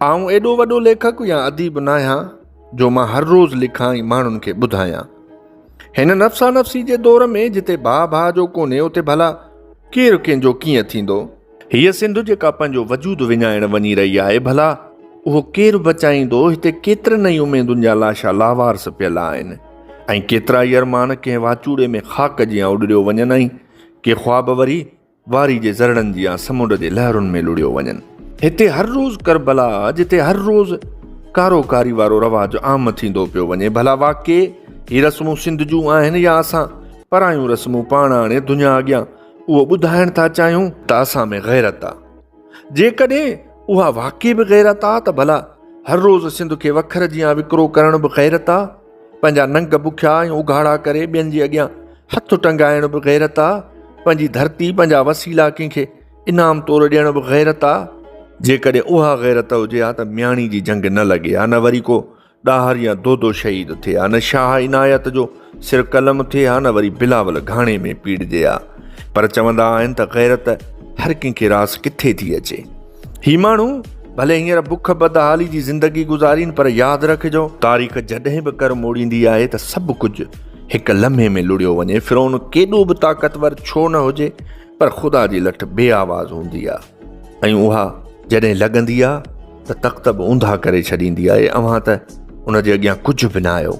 آئون ايڏو وڏو ليکڪ يا اديب ناهيان جو مان هر روز لکان ۽ ماڻهن کي ٻڌايان. هن نفسا نفسي جي دور ۾ جتي ڀاء ڀاء جو ڪونهي اتي ڀلا ڪير ڪنهن جو ڪيئن ٿيندو؟ هيء سنڌ جيڪا پنهنجو وجود وڃائڻ وڃي رهي آهي ڀلا اهو ڪير بچائيندو؟ هتي ڪيترن ئي اميدن جا لاشا لاوارث پيل آهن ۽ ڪيترائي ارمان ڪنهن واچوڙي ۾ خاڪ جيان اڏريو وڃن ۽ ڪي خواب وري واري جي ذرڙن جيان سمنڊ جي لهرن ۾ لڙهيو وڃن. هتي هر روز ڪربلا جتي هر روز ڪارو ڪاري وارو رواج عام ٿيندو پيو وڃي ڀلا واقعي هي رسمون سنڌ جون آهن يا اسان پرايون رسمون پاڻ آڻي دنيا اڳيان اهو ٻڌائڻ ٿا چاهيون ته اسان ۾ غيرت آ جيڪڏهن اها واقعي به غيرت آ ته ڀلا هر روز سنڌ کي وکر جيان وڪرو ڪرڻ به غيرت آ. پنهنجا ننگ بکيا ۽ اگهاڙا ڪري ٻين جي اڳيان هٿ ٽنگائڻ به غيرت آ، پنهنجي ڌرتي پنهنجا وسيلا ڪنهن کي انعام طور ڏيڻ به غيرت آ، جيڪڏهن اها غيرت هجي ها ته مياڻي جي جنگ نه لڳي ها نه وري ڪو ڏاهر يا دودو شهيد ٿئي ها نه شاهه عنايت جو سر قلم ٿئي ها نه وري بلاول گهاڻي ۾ پيڙجي ها پر چوندا آهن ته غيرت هر ڪنهن کي راس ڪٿي ٿي اچي. هي ماڻهو ڀلي هينئر بک بدحالي جي زندگي گذارين پر ياد رکجو تاريخ جڏهن به ڪر موڙيندي آهي ته سڀ ڪجهه هڪ لمحي ۾ لڙيو وڃي فرعون ڪيڏو به طاقتور ڇو نه هجي پر خدا جي لٺ بي آواز هوندي آهي ۽ اها جڏهن لڳندي آهي ته تخت به اونڌا ڪري ڇڏيندي آهي اوهان ته ان جي اڳيان ڪجهه به نه آهيو